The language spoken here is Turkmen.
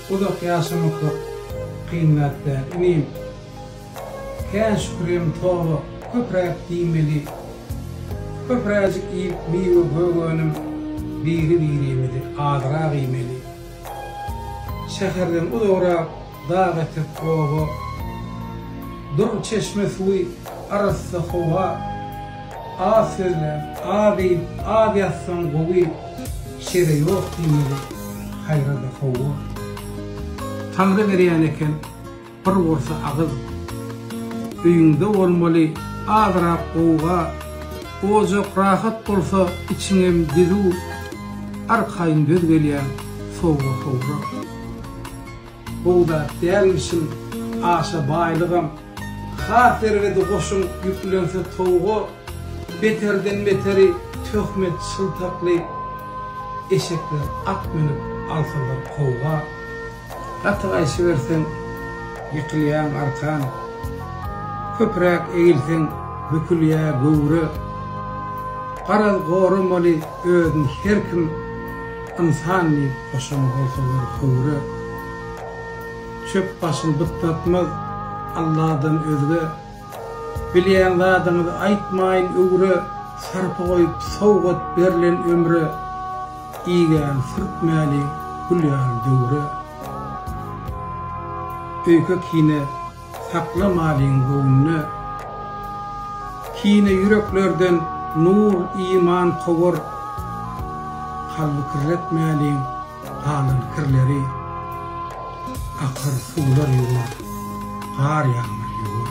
Uzak ýaşamaklyk kyn zat däl inim. Kän şükürem toba köpräk diýmeli. Köpräjik iýip miwe gök önüm biri birimizi azrak iýmeli. Şäherden uzagrak Dag etek oba, dur çeşme suwy, arassa howa, Az sözläp, az iýip, az ýatsaň gowy, Şere ýok diýmeli, haýra-da howwa. Taňry berýän eken bir bolsa agyz, Öýüňde bolmaly azrak gowga, Ojak rahat bolsa içiňem dizu, Arkaýyn döz gelýän sowga-howra. Gowy zat dälmişin aşa baýlygam. Ha serwedi goşun ýüklense towga beterden beteri töhmet şyltakly eşekler at münüp alsalar kowga. Gaty gaýşyberseň ýykylýaň arkan. Köpräk egilseň bükülýä göwre. Garaz goramaly özün her kim. Ynsan diýip goşan bolsalar höwre. Çöp başyn bytnatmaz Alladan özge. Bilýän zadyňyz aýtmaýyn öwre. Sarpa goýup sowgat berlen ömre. Igän sürtmäliň gül ýaly döwre. Öýke-kine. Sakla malyň göwnüne kine ýüreklerden nur iman kowar kalby kirlet mäliň galan kirleri akyr suwlar ýuwar gar ýagmyr ýuwar.